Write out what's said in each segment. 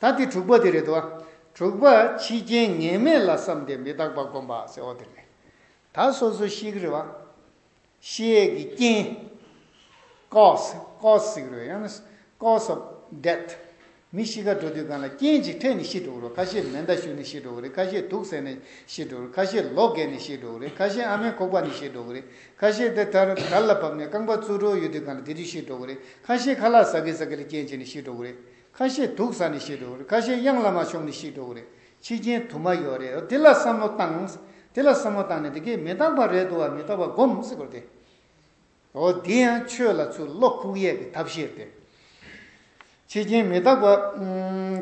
ད་དེ་དྲུག་པ་དེ་རེད་དོ། དྲུག་པ་ཕྱི་རྐྱེན་ངེས་མེད་ལ་བསམ་སྟེ་མི་རྟག་པ་བསྒོམ་པ་ཟེར་བ་དེ་རེད། ད་སོ་སོ་ཤིག་རེད་བ། ཤེས་ཡས་ཀྱི་རྐྱེན། cause cause ཟིག་རེད་བ་ཡང་ན cause of death མི་ཤི་ཁ་འགྲོ་དུས་གང་ལ་རྐྱེན་ཅིག་འཕྲད་ནས་ཤི་འགྲོ་གི་རེད་ཁ་ཤས་མེ་མདའ་ཞུ་ནས་ཤི་འགྲོ་གི་རེད་ཁ་ཤས་དུག་ཟས་ནས་ཤི་འགྲོ་གི་རེད་ཁ་ཤས་ལོ་བརྒལ་ནས་ཤི་འགྲོ་གི་རེད་ཁ་ཤས་ཨ་མའི་ཁོག་པ་ནས་ཤི་འགྲོ་གི་རེད་ཁ་ཤས་དེ་ལྟར་དར་ལ་བབས་ནས་རྐང་པ་བཙུགས་འགྲོ་ཡོད་དུས་གང་ལ་དེ་དུས་ཤི་འགྲོ་གི་རེད་ཁ་ཤས་ཁ་ལག་ཟ་གི་ཟ་གི་ལ་རྐྱེན་བྱས་ནས་ཤི་འགྲོ་གི་རེད། ཁ་ཤས་འདུག་ས་ནས་ཤི་འགྲོ་གི་རེད་ཁ་ཤས་གཡང་ལ་མ་ཤོང་ནས་ཤི་འགྲོ་གི་རེད་ཕྱི་རྒྱན་དུ་མ་ཡོད་རེད་དེ་ལ་བསམ་བློ་བཏང་དེ་ལ་བསམ་བློ་བཏང་ནས་དེ་གས་མི་རྟག་པ་རེད་འདུག་བ་མི་རྟག་པ་སྒོམ་སེ་གོ་རེད་དེ་འོ་དེ་ཡང་ཆོས་ལ་ཚུར་བློ་ཁུག་ཡས་ཀྱི་ཐབས་ཤེས་རེད་ཕྱི་རྒྱན་མི་རྟག་པ་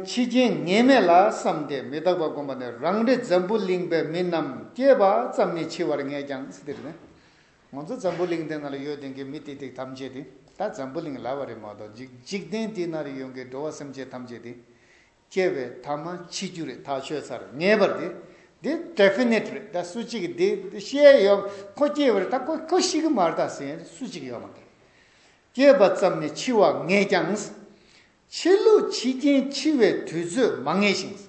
ཕྱི་རྒྱན་ངེས་མེད་ལ་བསམ་སྟེ་མི་རྟག་པ་སྒོམ་པ་ནི་རང་རེ་འཛམ་བུ་གླིང་པའི་མི་རྣམས་སྐྱེས་པ་ཙམ་ནས་འཆི་བར་ངེས་ཀྱང་སེ་དེ་རེད་ང་ཚོ་འཛམ་བུ་གླིང་འདི་ན་ལ་ཡོད་དོན་གྱི་མི་ཏིག་ཏིག་ཐམས་ཅད་དེ་ད་འཛམ་བུ་གླིང་ལ་བ་རེད་མ་གཏོགས་འཇིག་འཇིག་རྟེན་འདི་ན་རེ་ཡོང་གི་འགྲོ་བ་སེམས་ཅན་ཐམས་ཅད་དེ་སྐྱེ་བའི་ཐ་མ་འཆི་རྒྱུ་རེད་ཐག་ཆོད་ཚར་ངེས་པར་དེ་འདི Definite རེད་ད་སུ་གཅིག་གི་འདི་ཤེས་ཡོད་ཁོ་སྐྱེ་བ་རེད་ད་ཁོ་ཁོ་ཤི་གི་མ་རེད་ད་ཟེར་ཡོད་སུ་གཅིག་ཡོད་མ་རེད། སྐྱེས་པ་ཙམ་ནས་འཆི་བ་ངེས་ཀྱང། འཆི་ལུགས་འཆི་རྐྱེན་འཆི་བའི་དུས་ཚོད་མ་ངེས་ཤིང།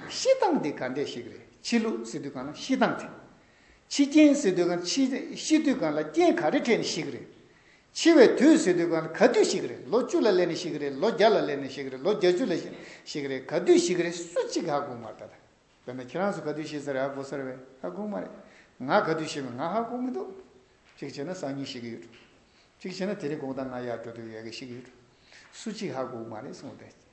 ཤི་སྟངས་དེ་ག་འདྲས་ཤིག་རེད་འཆི་ལུགས་ཟེར་དུས་གང་ན་ཤི་སྟངས་དེ། འཆི་རྐྱེན་ཟེར་དུས་གང་འཆི་ཤི་དུས་གང་ལ་རྐྱེན་ག་རེ་འཕྲད་ནས་ཤི་གི་རེད། འཆི་བའི་དུས་ཟེར་དུས་གང་ལ་ག་དུས་ཤི་གི་རེད་ལོ་བཅུ་ལ་སླེབས་ནས་ཤི་གི་རེད་ལོ་བརྒྱ་ལ་སླེབས་ནས་ཤི་གི་རེད་ལོ་བརྒྱ་བཅུ་ལ་ཤི་གི་རེད་ག་དུས་ཤི་གི་རེད་སུ་གཅིག་གིས་ཧ་གོ་མ་རེད་ད་ལྟ་བོད་ན་ཁྱེད་རང་ཚོ་ག་དུས་ཤི་ས་རེད་ཧ་གོ་ས་རེད་བས་ཧ་གོ་མ་རེད། ང་ག་དུས་ཤི་མིན་ང་ཧ་གོ་མི་འདུག་གཅིག་བྱས་ན་སང་ཉིན་ཤི་གི་ཡོད། གཅིག་བྱས་ན་དེ་རིང་དགོང་དང་ང་ཡར་འགྲོ་དུས་ཡལ་གི་ཤི་གི་ཡོད། སུ་གཅིག་ཧ་གོ་མ་རེད་གསུངས་བསྡད།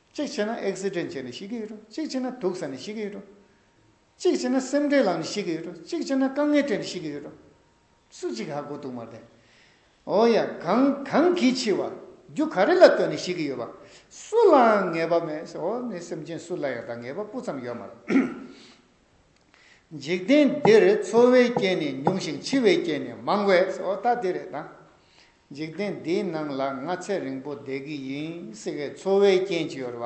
གཅིག་བྱས་ན་ཨེག་སི་ཏྲན་བྱས་ནས་ཤི་གི་ཡོད་རུང་གཅིག་བྱས་ན་དུག་ཟ་ནས་ཤི་གི་ཡོད་རུང། གཅིག་བྱས་ན་སེམས་ཁྲལ་ལངས་ནས་ཤི་གི་ཡོད་རུང་གཅིག་བྱས་ན་དཀའ་ངལ་སྤྲད་ནས་ཤི་གི་ཡོད་རུང། སུ་གཅིག་ཧ་གོ་དུག་མར་བསྡད། ཨོ་ཡ། གང་གང་གིས་འཆི་བ། རྒྱུ་ག་རེ་ལ་ལྟོས་ནས་ཤི་གི་ཡོད་པ། སུ་ལའང་ངེས་པ་མེད། ཨོ་ནི་སེམས་ཅན་སུ་ལ་ཡང་དང་ངེས་པ་སྤུ་ཙམ་ཡོད་མ་རེད། འཇིག་རྟེན་འདིར་འཚོ་བའི་རྐྱེན་ནི་ཉུང་ཞིང་འཆི་བའི་རྐྱེན་ནི་མང་བས། ཨོ་ད་དེ་རེད་ད། འཇིག་རྟེན་འདིའི་ནང་ལ་ང་ཚེ་རིང་པོ་བསྡད་ཀྱི་ཡིན་སྲིད་པས་འཚོ་བའི་རྐྱེན་གྱིས་འོར་བ།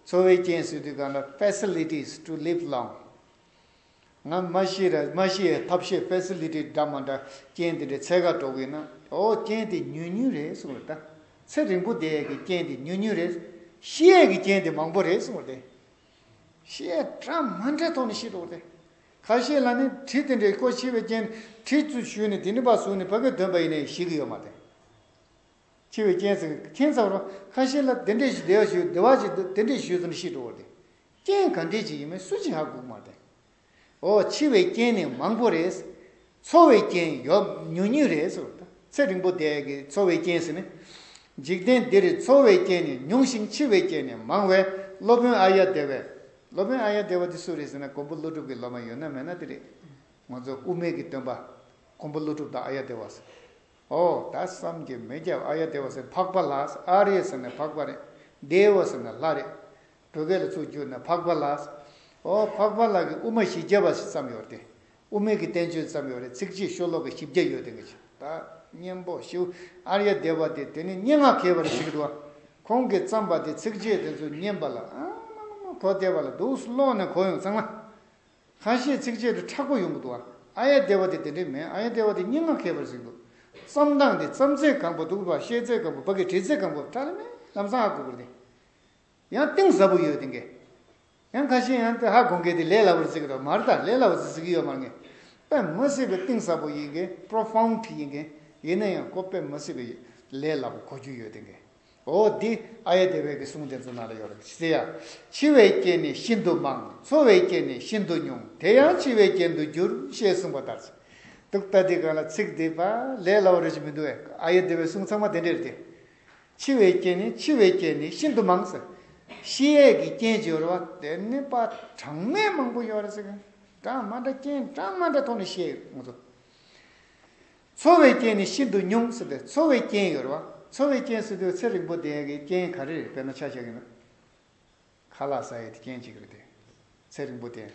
འཚོ་བའི་རྐྱེན་ཟེར་དུས་གང་ལ Facilities to live long ང་མ་ཤི་ར་མ་ཤི་ཡའི་ཐབས་ཤེས Facility འདྲ་མ་འདྲ་རྐྱེན་དེ་འདྲའི་ཚད་ཁ་སྒྲོག་གི་ན་འོ་རྐྱེན་དེ་ཉུང་ཉུང་རེད་གསུང་བ་དང། ཚེ་རིང་པོ་བསྡད་ཡས་ཀྱི་རྐྱེན་དེ་ཉུང་ཉུང་རེད། ཤི་ཡས་ཀྱི་རྐྱེན་དེ་མང་པོ་རེད་གསུང་བ་དེ། ཞེས་གྲ་མ་འདྲེ་ཐོགས་ནས་ཤི་འགྲོ་བ་སྟེ། ཁ་ཤས་ལ་ནི་གྲི་དེ་འདྲའི་སྐོར་ཕྱེ་བའི་རྐྱེན་གྲི་བཙུད་བཞུས་ནས་དེ་ནི་བ་ཟུག་ནས་བ་གའི་འདོན་པ་ཡིན་ནས་ཞི་གི་ཡོད་མ་དེ། ཕྱེ་བའི་རྐྱེན་ཟེར་གི་ཁྱེད་ཚང་རོ། ཁ་ཤས་ལ་དེ་འདྲས་ཞིག་བདེ་བ་བཞུས་བདེ་བ་ཞིག་དེ་འདྲས་བཞུས་སོང་ནས་ཤི་འགྲོ་བ་སྟེ། རྐྱེན་ག་འདྲས་ཅིག་ཡིན་མིན་སུ་གཅིག་ཧ་གོ་གི་མ་དེ། འོ་འཆི་བའི་རྐྱེན་ནི་མང་པོ་རེད། འཚོ་བའི་རྐྱེན་ཡོད་ཉུང་ཉུང་རེད། ཚེ་རིང་པོ་དེ་གི་འཚོ་བའི་རྐྱེན་ཟེར་ནི། འཇིག་རྟེན་འདིར་འཚོ་བའི་རྐྱེན་ནི་ཉུང་ཞིང་འཆི་བའི་རྐྱེན་ནི་མང་བས་སློབ་དཔོན་ཨ་ཡ་དེ་བས། སློབ་དཔོན་ཨ་ཡ་དེ་བ་དེ་སུ་རེད་ཟེར་ན་ཀོང་པོ་ཀླུ་སྒྲུབ་ཀྱི་སློབ་མ་ཡོད་ན་མེད་ན་དེ་རེད། ང་ཚོ་དབུ་མེད་ཀྱི་སྟོན་པ་ཀོང་པོ་ཀླུ་སྒྲུབ་དང་ཨ་ཡ་དེ་བ་ཟེར། ཨོ་ད་བསམ་གྱི་མེད་རྒྱབ་ཨ་ཡ་དེ་བ་ཟེར་འཕགས་པ་ལགས་ཨ་རེད་ཟེར་ནས་འཕགས་པ་རེད། དེ་བ་ཟེར་ན་ལྷ་རེད། བོད་སྐད་ལ་ཚུར་བསྒྱུར་ན་འཕགས་པ་ལགས། ཨོ་འཕགས་པ་ལགས་ཀྱི་དབུ་མ་བཞི་བརྒྱ་བ་ཞིག་བརྩམས་ཡོད་དེ། དབུ་མེད་ཀྱི་བསྟན་བཅོས་བརྩམས་ཡོད་རེད་ཚིག་བཅད་ཤོ་ལོ་ཀ་བཞི་བརྒྱ་ཡོད་དེ་འགའ་ཞིག་ད་སྙན་པོ་ཞུ་ཨ་ར་ཡ་སྡེ་བ་དེ་དེ་ནི་སྙན་ངག་མཁས་པ་རེད་ཤི་གི་འདུག་ཁོང་གིས་བརྩམས་པ་དེ་ཚིག་བཅད་དེ་ཚོ་སྙན་པ་ལ་ཨ་མ་མ་མ་གོ་བདེ་བ་ལ་འདུག་སུ་ཀློག་ནས་གོ་ཡོང་ཚང་མ། ཁ་ཤས་ཚིག་བཅད་དུ་ཁྲག་པོ་ཡོང་གི་འདུག་ཨ་ཨ་ཡ་སྡེ་བ་དེ་དེ་འདྲས་མེད་ཨ་ཡ་སྡེ་བ་དེ་སྙན་ངག་མཁས་པ་རེད་ཟེར་གི་འདུག་བརྩམས་སྟངས་དེ་བརྩམས་ཚད་གང་པོ་དུག་པ་བཤལ་ཚད་གང་པོ་བག་གི་བྲིས་ཚད་གང་པོ་ཁྲ་ལེ་མེ་ལམ་སང་ཨ་གུ་གུ་རེད། ཡང་གཏིང་ཟབ་པོ་ཡོད་དེ་འགས། ཡང་ཁ་ཤས་ཡང་ཏི་ཧ་གོ་མཁན་དེ་ལས་སླ་བོར་བརྩི་གི་རོ་མར་ད་ལས་སླ་བོ་བརྩི་གི་ཡོད་མ་ངེས། དཔེ་མི་སྲིད་པའི་གཏིང་ཟབ་པོ་ཡིན་གི Profound ཡིན་གི་ཡིན་ན་ཡང་ཀོ་དཔེ་མི་སྲིད་པའི་ལས་སླ་བོ་གོ་རྒྱུ་ཡོད་དེ་འགས། འོ་དེ་ཨ་ཡེ་དེ་བས་ཀི་གསུང་དེ་ཚོ་ནང་ལ་ཡོད་རེད་ཟེར་ཡ། འཆི་བའི་རྐྱེན་ནི་ཤིན་ཏུ་མང། འཚོ་བའི་རྐྱེན་ནི་ཤིན་ཏུ་ཉུང་དེ་ཡང་འཆི་བའི་རྐྱེན་དུ་འགྱུར་ཞེས་གསུངས་པ་ལྟར་ཟེར་འདུག་ད་དེ་གང་ལ་ཚིག་དེ་པ་ལས་སླ་བོ་རེད་ཅེས་མི་འདུག་ཨེ། ཨ་ཡེ་དེ་བས་གསུང་ཚང་མ་དེ་འདྲས་རེད་དེ། འཆི་བའི་རྐྱེན་ནི་འཆི་བའི་རྐྱེན་ནི་ཤིན་ཏུ་མང། ཤི་ཡས་ཀྱི་རྐྱེན་སྦྱོར་བ་སྟེ་ནི་པ་གྲངས་མེད་མང་པོ་ཡོད། གྲངས་མ་འདྲ་རྐྱེན་གྲངས་མ་འདྲ་ཐོག་ནས་བཤད་ཡོང་དུས། འཚོ་བའི་རྐྱེན་ནི་ཤིན་ཏུ་ཉུང། འཚོ་བའི་རྐྱེན་སྦྱོར་བ་འཚོ་བའི་རྐྱེན་ཟེར་དུས་ཚེ་རིང་པོ་ལྡན་གྱི་རྐྱེན་ག་རེ་རེད་དཔེར་ན་ཆ་བཞག་གིན་ཁ་ལག་ཟ་ཡས་དེ་རྐྱེན་གཅིག་རེད། ཚེ་རིང་པོ་ལྡན།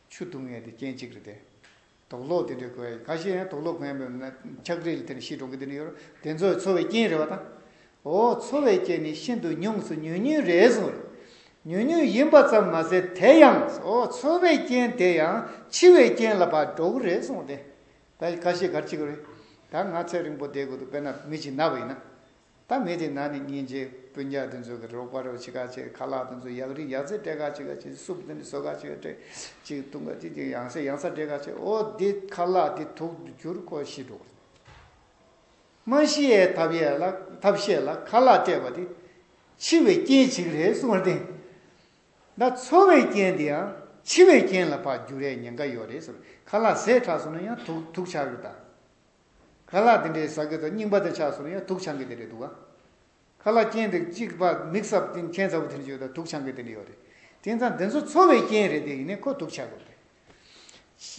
ཆུ་འཐུང་ཡས་དེ་རྐྱེན་གཅིག་རེད། དོགས་སློག་དེ་འདྲའི་དགོས་ཡ་ཡིན་ཁ་ཤས་ཡང་དོགས་སློག་གོན་ཡོད་མོད་ན་ཆགས་བྲེལ་དེ་ནི་ཤི་འགྲོ་གི་དེ་འདྲ་ཡོད་རོ་དེ་ཚོའི་འཚོ་བའི་རྐྱེན་རེད་བ་དང། འོ་འཚོ་བའི་རྐྱེན་ནི་ཤིན་ཏུ་ཉུང་སོ་ཉུང་ཉུང་རེད་གསུངས་རེད། ཉུང་ཉུང་ཡིན་པ་ཙམ་མ་ཟད་དེ་ཡང་འོ་འཚོ་བའི་རྐྱེན་དེ་ཡང་འཆི་བའི་རྐྱེན་ལ་བར་འགྲོ་གི་རེད་གསུངས་ཏེ། ད་ཁ་ཤས་གར་འཆི་གི་རེད། ད་ང་ཚེ་རིང་པོ་བསྡད་དགོས་འདུག་དཔེར་ན་མི་ཞིག་ན་བ་ཡིན་ན། ད་མེད་དེ་ན་ནི་སྙིང་རྗེ་སྤུན་རྒྱག་དེ་ཚོ་གི་རོགས་པ་རོགས་བྱེད་ཁ་ཆེ་ཁ་ལག་དེ་ཚོ་ཡག་རིག་ཡག་རྩེ་སྤྲད་ཁ་ཆེ་ཁ་ཆེ་སུབ་དེ་ནི་སོ་ཁ་ཆེ་ཁ་ཆེ་ཅིག་བཏུང་ཁ་ཅིག་ཅིག་ཡང་ས་ཡང་ས་སྤྲད་ཁ་ཆེ་ཨོ་འདི་ཁ་ལག་འདི་དུག་ཏུ་གྱུར་ཁོ་ཤི་འགྲོ་མ་ཤི་ཡའི་ཐབས་ཡས་ལ་ཐབས་ཤེས་ལ་ཁ་ལག་སྤྲད་པ་འདི་འཆི་བའི་རྐྱེན་ཅིག་རེད་གསུང་བར་བརྟེན། ད་འཚོ་བའི་རྐྱེན་འདི་ཡང་འཆི་བའི་རྐྱེན་ལ་འཕགས་འགྱུར་རེད་ཉེན་ཁ་ཡོད་རེད་ཟེར་ཁ་ལག་ཟས་ཁྲག་སོང་ན་ཡང་དུག་དུག་ཆགས་རྒྱུ་དང། ཁ་ལག་དེ་འདྲའི་ཟ་གི་དང་རྙིང་པ་དེ་ཆགས་སོང་ཡང་དུག་ཆང་གི་དེ་འདྲའི་དུག་ཁ་ལག་སྐྱེན་འདུག་གཅིག་པ་མིག་སྲབ་སྟེང་མཁན་ཚ་བོ་དེ་འདྲ་ཡོད་ད་དུག་ཆང་གི་དེ་འདྲ་ཡོད་རེད་དེང་སང་འདི་ཚོ་འཚོ་བའི་རྐྱེན་རེད་དེ་ཡིན་ནས་ཁོ་དུག་ཆགས་དགོས་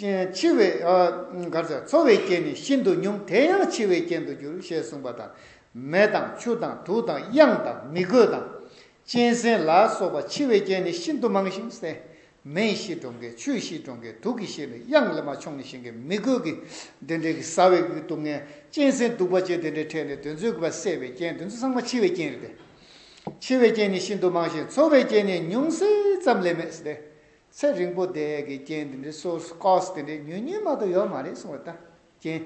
རེད། འཆི་བའི། གར་ཚ་འཚོ་བའི་རྐྱེན་ནི་ཤིན་ཏུ་ཉུང་དེ་ཡང་འཆི་བའི་རྐྱེན་དུ་འགྱུར་ཞེས་གསུངས་པ་དང། མེ་དང་ཆུ་དང་དུག་དང་དབྱངས་དང་མི་རྒོད་དང། གཅན་གཟན་ལ་སོགས་པ་འཆི་བའི་རྐྱེན་ནི་ཤིན་ཏུ་མང་ཞིང་གསལ་མེའི་གཤིས་གྲོང་ཁྱེར་ཆུའི་གཤིས་གྲོང་ཁྱེར་དུག་གི་གཤིས་ལས་དབྱངས་ལེན་མ་ཆུང་ནས་བཞེངས་ཀྱི་མི་རྒོད་ཀྱི་དེ་འདྲའི་གི་ཟ་བའི་གི་སྡུག་བསྔལ་གཅན་གཟན་གདུག་པ་བཅས་དེ་འདྲའི་འཕྲད་ནས་དོན་རྩོད་གི་བ་སེལ་བའི་རྐྱེན་དོན་རྩོད་ཚང་མ་འཆི་བའི་རྐྱེན་རེད་དེ། འཆི་བའི་རྐྱེན་ནི་ཤིན་ཏུ་མང་ཞིང་འཚོ་བའི་རྐྱེན་ནི་ཉུང་ཟད་ཙམ་ལས་མེད་ཟེར་ཏེ། ཚེ་རིང་པོ་བསྡད་གི་རྐྱེན་དེ་འདྲའི་སོར་སྐོགས་དེ་འདྲའི་ཉུང་ཉུང་མ་གཏོགས་ཡོད་མ་རེད་གསུངས་བ་ལྟར། རྐྱེན།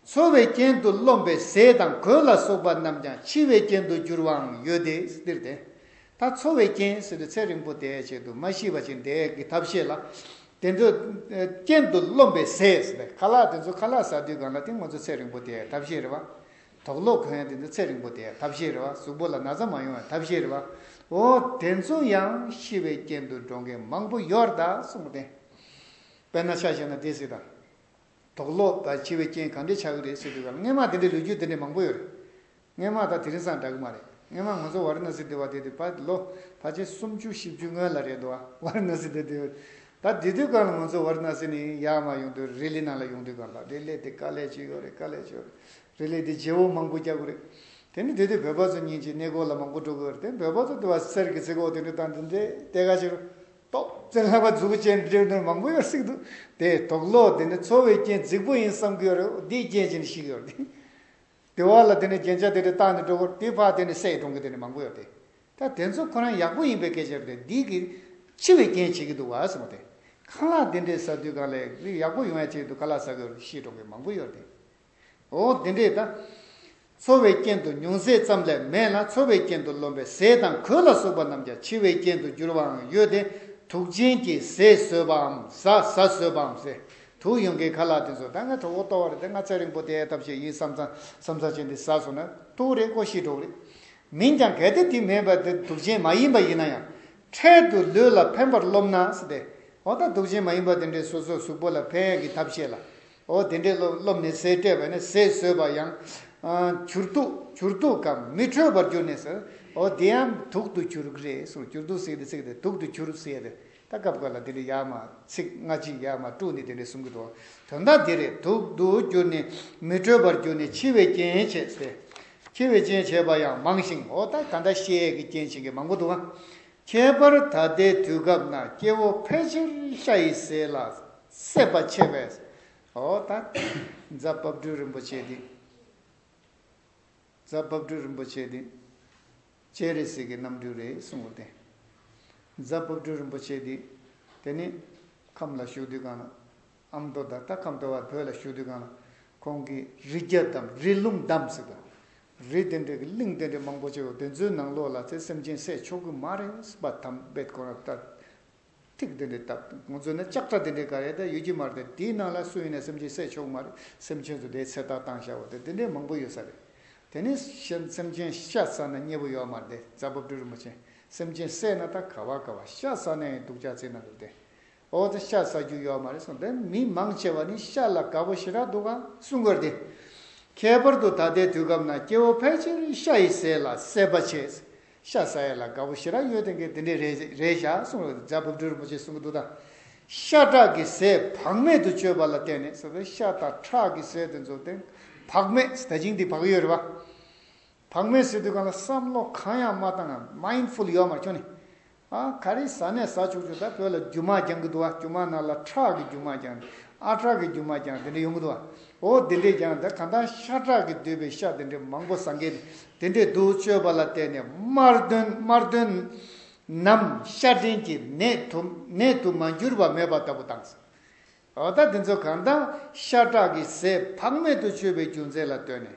འཚོ་བའི་རྐྱེན་དུ་རློམ་པའི་ཟས་དང་གོས་ལ་སོགས་པ་རྣམས་ཀྱང་འཆི་བའི་རྐྱེན་དུ་འགྱུར་བའང་ཡོད་དེ། འདིར་དེ་དག་འཚོ་བའི་རྐྱེན་ཟེར་ཏེ་ཚེ་རིང་པོ་དེའི་ཆེད་དུ་མ་ཤི་བ་ཅི་འདས་ཀྱི་ཐབས་བཤད་ལ། དེ་ཚོའི་རྐྱེན་དུ་རློམ་པའི་ཟས་ཟེར་ཏེ་ཁ་ལག་དེ་ཚོ་ཁ་ལག་ཟ་དུས་གང་ལ་དེ་ངོ་ཚོ་ཚེ་རིང་པོ་དེའི་ཐབས་ཤེས་རེད་བ། དོགས་ལོག་གོན་དེ་ཚོ་ཚེ་རིང་པོ་དེའི་ཐབས་ཤེས་རེད་བ་གཟུགས་པོ་ལ་ན་ཚ་མ་ཡོང་བའི་ཐབས་ཤེས་རེད་བ། འོ་དེ་ཚོ་ཡང་ཤི་བའི་རྐྱེན་དུ་འགྲོ་མཁན་མང་པོ་ཡོད་དཱ་གསུངས་པ་དེ། དཔེར་ན་ཆ་བཞག་ན་སྡེ་སྲིད་དང། དོགས་ལོག་པ་བྱེད་པའི་རྐྱེན་གང་འདྲས་ཆགས་ཀྱི་རེད་ཟེར་དུས་ཀར་རྔན་མ་དེ་འདྲའི་ལོ་རྒྱུས་དེ་འདྲའི་མང་པོ་ཡོད་རེད། རྔན་མ་དང་དེ་རིང་སང་འདྲ་གི་མ་རེད། རྔན་མ་ང་ཚོ་ཝཱ་རི་ན་སི་སྡོད་པ་དེ་དུས་བར་ལོ་ཕ་ཆེན་སུམ་བཅུ་བཞི་བཅུ་སྔོན་ལ་རེད་འདུག་ཝཱ་རི་ན་སི་སྡོད་དུས། ད་དེ་དུས་ཀར་ང་ཚོ་ཝཱ་རི་ན་སི་ནས་ཡཱ་མཱ་ཡོང་དུས་རི་ལི་ནང་ལ་ཡོང་དུས་ཀར་ལ་རི་ལི་དེ་དཀའ་ལས་ཅི་ཡོད་རེད་དཀའ་ལས་ཅི་ཡོད་རེད། རི་ལི་དེ་རྗེ་བོ་མང་པོ་བསྐྱལ་དགོས་རེད། དེ་ནི་དེ་དུས་བོད་པ་ཚོ་གཉིས་ཀྱི་གནས་སྐོར་ལ་མང་པོ་འགྲོ་དགོས་རེད་དེ་བོད་པ་ཚོ་དུ་བ་གསེར་གྱི་རྩི་ཁོག་དེ་འདྲའི་སྟངས་དེ་འདྲའི་གཏེར་ཁ་ཆེ་རུ་ཏོག་ཙེ་ལྷ་པ་གཟུགས་ཅན་འདི་འདྲའི་དོན་མང་པོ་ཡོད་སྲིད་འདུག་དེ་དོགས་ལོག་དེ་ནི་འཚོ་བའི་རྐྱེན་རྫིག་པོ་ཡིན་བསམ་གི་ཡོད་རེད་འོ་དེའི་རྐྱེན་ཅན་ཞིག་ཡོད་དེ་དེ་བ་ལ་དེ་ནི་རྒྱན་ཆ་དེ་འདྲའི་བཏགས་ནས་འགྲོ་དགོས་དེ་ཕག་དེ་ནི་བསད་འགྲོང་གི་དེ་ནི་མང་པོ་ཡོད་དེ་ད་དེ་ཚོ་ཁོ་རང་ཡག་པོ་ཡིན་པའི་སྐད་ཆ་རེད་དེ་འདི་གི་འཆི་བའི་རྐྱེན་བྱེད་ཀྱི་འདུག་བ་སེམས་དེ་ཁ་ལག་དེ་འདྲའི་ཟ་དུས་གང་ལེགས་ཡག་པོ་ཡོང་ཡ་བྱེད་དུ་ཁ་ལག་ཟ་གི་ཡོད་རེད་ཤི་འགྲོང་གི་མང་པོ་ཡོད་དེ། འོ་འདི་འདྲས་ད། འཚོ་བའི་རྐྱེན་དུ་ཉུང་ཟད་ཙམ་ལས་མེད་ན་འཚོ་བའི་རྐྱེན་དུ་རློམ་པའི་ཟས་དང་གོས་ལ་སོགས་པ་རྣམས་ཀྱང་འཆི་བའི་རྐྱེན་དུ་འགྱུར་བའང་ཡོད་དེ། དུག་ཅན་གྱི་ཟས་ཟོས་པའམ་ཟ་ཟ་ཟོས་པའམ་ཟས་དུག་ཡོང་གི་ཁ་ལག་དེ་ཚོ་ད་ང་ཁྲོ་བོ་ལྟ་བ་རེད་དེ་ང་ཚེ་རིང་པོ་དེ་ཨེ་ཐབས་ཤེས་ཡིན་བསམ་ཙང་བསམ་ཚར་ཆེ་འདི་ཟ་སོང་ན་དུག་རེད་ཀོ་ཤི་གྲོགས་རེད། མིན་ཀྱང་གལ་ཏེ་དེ་མེད་པར་དེ་དུག་ཅན་མ་ཡིན་པ་ཡིན་ན་ཡང་འཕྲལ་དུ་ལུས་ལ་ཕན་པར་རློམ་ན་ཟེ། འོ་ད་དུག་ཅན་མ་ཡིན་པ་དེ་འདྲས་སོ་སོའི་གཟུགས་པོ་ལ་ཕན་ཡག་གི་ཐབས་ཤེས་ལ། འོ་དེ་འདྲའི་བློ་བློ་མི་གསལ་སྤྲས་པ་ནི་ཟས་ཟོས་པ་ཡང། གྱུར་དུག་གྱུར་དུག་གམ་མི་འཕྲོད་པར་གྱུར་ནས་སུ། འོ་དེ་ཡང་དུག་ཏུ་གྱུར་གྱི་རེད་གསུངས་གྱུར་དུག་ཟེགས་ཏེ་ཚིག་དེ་དུག་ཏུ་གྱུར་ཟེར་ཏེ། ད་སྐབས་འགར་ལ་དེ་འདྲའི་ཡག་མ་ཚིག་སྔ་ཕྱི་ཡག་མ་དཀྲུགས་ནས་དེ་འདྲའི་གསུང་གི་འདུག་དོན་དག་དེ་རེད་དུག་ཏུ་གྱུར་ནས་མི་འཕྲོད་པར་གྱུར་ནས་འཆི་བའི་རྐྱེན་བྱས་ཟེར། འཆི་བའི་རྐྱེན་བྱས་པ་ཡང་མང་ཞིང་འོ་ད་ད་ལྟ་ཤའི་གི་རྐྱེན་བྱེད་མཁན་མང་པོ་འདུག་ཨང། ཁྱད་པར་ད་ལྟའི་དུས་སྐབས་ན་སྐྱེ་བོ་ཕལ་ཆེར་ཤ་ཡི་ཟས་ལ་སྲེད་པ་ཆེ་བས་སོ། འོ་ད། རྫ་བབས་སྦྲུལ་རིན་པོ་ཆེ་འདི། རྫ་བབས་སྦྲུལ་རིན་པོ་ཆེ་འདི། ཅེས་རེ་ཟིག་གི་རྣམ་འགྱུར་རེ་གསུངས་པ་སྟེ། རྫ་བབས་སྦྲུལ་རིན་པོ་ཆེ་འདི། དེ་ནི། ཁམས་ལ་བཞུགས་དུས་གང་ན། ཨ་མདོ་བདག་རྟ་ཁམས་སྟོད་བར་བོད་ལ་བཞུགས་དུས་གང་ན། ཁོང་གིས་རི་རྒྱ་བསྡམ་རི་ཀླུང་བསྡམ་ཟེར་དོ། རི་དེ་འདྲའི་གི་གླིང་དེ་འདྲའི་མང་པོ་ཆེ་བ་དེ་ཚོའི་ནང་ལོགས་ལ་ཚེ་སེམས་ཅན་སྲེད་ཆོག་གི་མ་རེད་པ་དམ་དཔེ་དགོངས་རབ་ལྟར། ཐིག་འདི་འདྲའི་སྟབས་ཁོང་ཚོས་ནི་ལྕགས་ཁྲ་འདི་འདྲའི་ག་རེ་དེ་ཡོད་ཀྱི་མ་རེད་དེའི་ནང་ལ་སུ་ཡིན་ནས་སེམས་ཅན་བསད་ཆོག་གི་མ་རེད་སེམས་ཅན་ཚོ་དེའི་ཚེ་ཐག་བཏང་ཤ་བོ་དེ་འདི་འདྲའི་མང་པོ་ཡོད་ས་རེད་དེ་ནི་སེམས་ཅན་ཤ་ཟ་ན་མཉེས་པོ་ཡོད་མ་རེད་རྩ་སྦུབ་སྦྲུལ་རིན་པོ་ཆེ་སེམས་ཅན་བསད་ན་ད་ག་བ་ག་བ་ཤ་ཟ་ན་ཡང་སྡུག་ཅག་ཙིག་ན་འདུག་དེ་འོག་ཏུ་ཤ་ཟ་རྒྱུ་ཡོད་མ་རེད་གསུངས་དེ་མི་མང་ཆེ་བ་ནི་ཤ་ལ་དགའ་བོ་ཞེ་དྲག་འདུག་ག། གསུངས་དགོས་རེད་དེ། ཁྱད་པར་དུ་ད་ལྟའི་དུས་སྐབས་ན་སྐྱེ་བོ་ཕལ་ཆེར་ཤ་ཡི་ཟས་ལ་སྲེད་པ་བྱེད། ཤ་ཟ་ཡས་ལ་དགའ་བོ་ཞེ་རག་གཡོ་ལྡན་གྱིས་འདི་འདྲའི་རེད་རེད་བཞག་གསུངས་ལ་རྫ་བུབ་སྦྲུལ་རིན་པོ་ཆེས་གསུངས་གི་འདུག་ད། ཤ་ཁྲག་གི་ཟས་བག་མེད་དུ་སྤྱོད་པ་ལ་བརྟེན་ནས་ཟོ་བའི་ཤ་དང་ཁྲག་གི་ཟས་དེ་ཚོ་དེ་བག་མེད་ཟ་ཅིང་འདི་བག་ཡོད་རེད་བ། བག་མེད་ཟོས་དུས་གང་ལ་བསམ་བློ་གང་ཡང་མ་བཏང་ངམ Mindful ཡོད་མར་ཁྱོད་ནི། ཨ་ག་རེ་ཟ་ནས་ཟ་བཅུག་བཅུག་ད་བོད་ལ་རྒྱུ་མ་རྒྱང་གི་འདུག་བ་རྒྱུ་མ་ན་ལ་ཁྲག་གི་རྒྱུ་མ་རྒྱང་ནི་ཨ་ཁྲག་གི་རྒྱུ་མ་རྒྱང་དེ་འདྲ་ཡོང་གི་འདུག་བ། འོ་དེ་འདྲས་རྒྱང་ད་གང་ལྟར་ཤ་ཁྲག་གིས་བསྡུས་པའི་ཤ་དེ་འདྲའི་མང་པོ་ཟ་མཁན་ནི་དེ་འདྲའི་དུར་བཅོས་པ་ལ་བརྟེན་ནས་དམར་འདོན་དམར་འདོན། ནམ་ཤར་འདྲེན་གྱི་ནད་དུ་ནད་དུ་མ་འགྱུར་བ་མེད་པ་ལྟ་བུ་དང། འོ་ད་འདི་ཚོ་གང་དང་ཤ་ཁྲག་གི་ཟས་བག་མེད་དུ་སྤྱོད་པའི་རྒྱུ་མཚན་ལ་ལྟོས་ནས།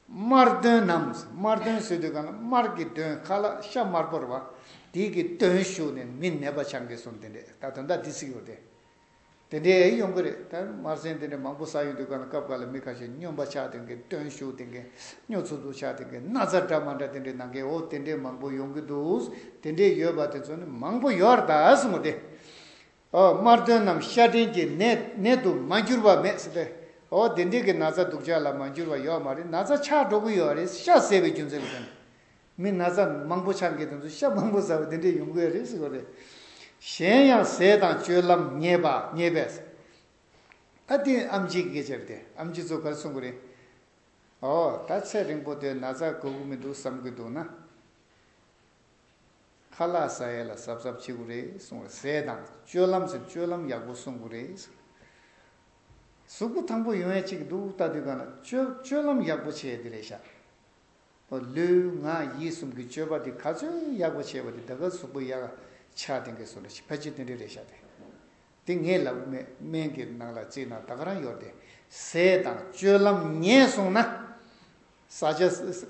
དམར་འདོན་ནམ་དམར་འདོན་ཟེར་དུས་གང་ལ་དམར་གྱི་འདོན་ཁ་ལ་ཤ་དམར་པོར་བ་དིས་ཀྱི་འདོན་ཞུགས་ནས་མི་ནད་པ་ཆང་གིས་སོང་དེ་འདྲས་ད་དོན་དག་འདི་ཚིག་ཡོད་དེ། དེ་འདྲའི་གཡོ་འགུལ་རེད། དམར་སེང་དེ་འདྲའི་མང་པོ་ཟ་ཡོང་དུས་ག་ལ་སྐབས་ག་ལ་མི་ཁ་ཞིག་སྨྱོན་པ་ཆགས་དེ་གའི་སྟོན་ཤུགས་དེ་གའི་སྨྱོ་ཚུགས་ཚུགས་ཆགས་དེ་གའི་ན་ཚ་འདྲ་མ་འདྲ་དེ་འདྲའི་ནང་གའི་འོ་དེ་འདྲའི་མང་པོ་ཡོང་གི་འདུག་དེ་འདྲའི་ཡོད་པ་དེ་ཚོ་ནི་མང་པོ་ཡོར་ད་སོང་བ་དེ། འོ་དམར་སྟོན་རྣམས་ཤ་འདྲེན་གྱི་ནད་ནད་དུ་མ་འགྱུར་བ་མེད་སྲིད་པས་འོ་དེ་འདྲའི་གའི་ན་ཚ་སྡུག་ཅག་ལ་མ་འགྱུར་བ་ཡོག་མ་རེད་ན་ཚ་ཆགས་འགྲོ་གི་ཡོག་རེད་ཤ་ཟེར་བའི་རྒྱུ་མཚན་ལ་ཐོན། མི་ན་ཚ་མང་པོ་ཆགས་འགེ་དང་ཚོས་ཤ་མང་པོ་ཟ་བ་དེ་འདྲས་ཡོང་གི་རེད་ཟེར་བ་རེད། གཞན་ཡང་ཟས་དང་སྤྱོད་ལམ་ཉེས་པ་ཉེས་པས། ད་དེ་ཨམ་གཅིག་གི་སྐད་ཆ་རེད་དེ་ཨམ་གཅིག་ཚོ་གར་གསུང་གི་རེད། ཨོ་ད་ཚེ་རིང་པོ་དེ་ན་ཚ་གོ་གི་མི་འདུག་བསམ་གི་འདུག་ན། ཁ་ལག་ཟ་ཡས་ལ་གཟབ་གཟབ་བྱེད་གི་རེད་གསུང་བ་རེད། ཟས་དང་སྤྱོད་ལམ་ཟེར་སྤྱོད་ལམ་ཡག་པོ་གསུང་གི་རེད་ཟེར། གཟུགས་པོ་ཐང་པོ་ཡོང་ཡས་བྱེད་གི་འདུག་ད་དུས་གང་ལ་སྤྱོད་ལམ་ཡག་པོ་བྱེད་ཡས་དེ་རེད་ཤག། ལུས་ངག་ཡིད་གསུམ་གྱི་སྤྱོད་པ་འདི་ག་ཚོད་ཡག་པོ་བྱས་པ་དེ་ད་ག་གཟུགས་པོ་ཡག་ཆགས་དེང་གི་སོ་ལ་ཕ་ཕྱི་དོན་དྲི་རེ་བྱ་དེ་དེ་ངས་ལ་དབུ་མེད་སྨན་གྱི་ནང་ལ་བརྩིས་ན་ད་ག་རང་ཡོར་དེ་ཟས་དང་སྤྱོད་ལམ་ཉེས་སོང་ན་ཟ་བྱ་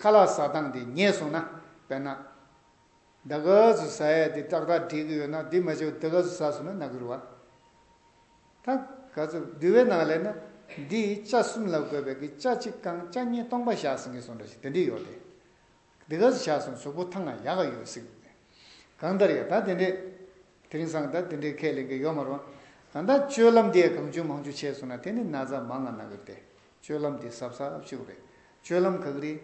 ཁ་ལག་ཟ་སྟངས་དེ་ཉེས་སོང་ན་དཔེར་ན་ད་ག་གཟུགས་ཟ་ཡ་དེ་ཏག་ཏག་འགྲིག་གི་ཡོད་ན་དེ་མ་བྱས་པ་ད་ག་གཟུགས་ཟ་སོང་ན་ནག་གི་རུ་བ། དང། ག་ཚུབ་བསྡུ་བའི་ནང་ལས་ན། འདི་ཡི་ལྕགས་གསུམ་ལ་དགོས་པའི་གི་ལྕགས་གཅིག་རྐང་ལྕགས་གཉིས་སྟོང་པ་བཞག་ཟིན་གི་སོང་འདྲ་ཞིག་དེ་འདྲི་ཡོག་དེ། འདི་ག་ཚོ་ཆགས་སོང་གཟུགས་པོ་ཐང་ང་ཡག་ག་ཡོད་སིག། གང་ལྟར་ཡ་ད་དེ་འདྲི། དེ་རིང་སང་ད་དེ་འདྲི་ཁས་ལེན་གི་ཡོག་མ་རུང། གང་ལྟར་སྤྱོད་ལམ་དེ་གང་ཅུང་མང་ཅུང་ཆད་སོང་ན་དེ་ནི་ན་ཚ་མང་ང་ན་གི་དེ། སྤྱོད་ལམ་དེ་ཟབ་ཟབ་ཅིག་རེད། སྤྱོད་ལམ་ག་གི་རེད།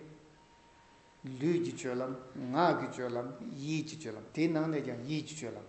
ལུས་ཀྱི་སྤྱོད་ལམ། ངག་གི་སྤྱོད་ལམ། ཡིད་ཀྱི་སྤྱོད་ལམ་དེའི་ནང་ནས་ཀྱང་ཡིད་ཀྱི་སྤྱོད་ལམ།